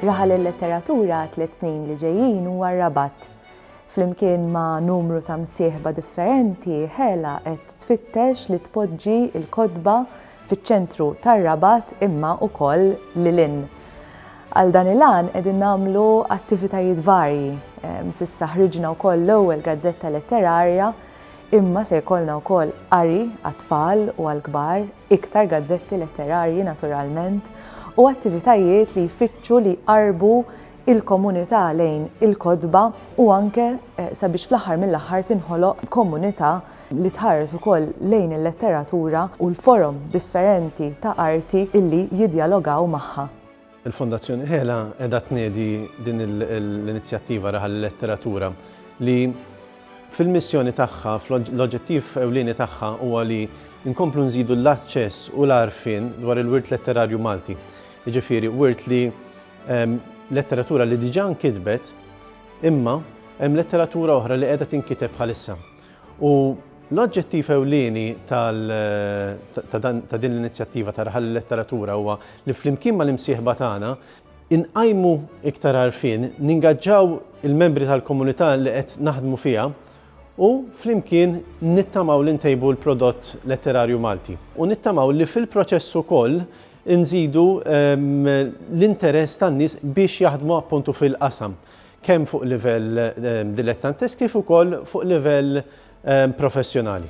Raħal il-letteratura għat-tliet snin li ġejjin huwa r-Rabat. Flimkien ma' numru ta' msieħba differenti, Hela qed tfittex li tpoġġi l-kotba fiċ-ċentru tar-Rabat imma wkoll lil hinn. Għal dan il-għan qegħdin nagħmlu attivitajiet varji. S'issa ħriġna wkoll l-ewwel gazzetta letterarja Imma se jkollna wkoll qari għat-tfal u għall-kbar, iktar gazzetti letterarji naturalment, u attivitajiet li jfittxu li jqarrbu il-komunità lejn il-kotba u anke sabiex fl-aħħar mill-aħħar tinħoloq komunità li tħares ukoll lejn il-letteratura u l-forom differenti ta' arti illi jiddjalogaw magħha. Il-Fondazzjoni Hela qiegħda tniedi din l-inizjattiva Raħal il-Letteratura li fil-missjoni tagħha, l-oġġettiv ewlieni tagħha huwa li nkomplu nżidu l-aċċess u l-għarfien dwar il-wirt letterarju Malti. Jiġifieri wirt li ehm, letteratura li diġà nkitbet imma hemm letteratura oħra li qiegħda tinkiteb bħalissa. U l-oġġettiv ewlieni ta' din l-inizjattiva ta' Raħal il-Letteratura huwa li flimkien mal-imsieħba tagħna inqajmu iktar għarfien, ningaġġaw il-membri tal-komunità li qed naħdmu fiha u flimkien nittamaw li ntejbu l-prodott letterarju Malti. U nittamaw li fil-proċess ukoll inżidu l-interess tan-nies biex jaħdmu appuntu fil-qasam. kemm fuq livell dilettantesk kif ukoll fuq livell professjonali.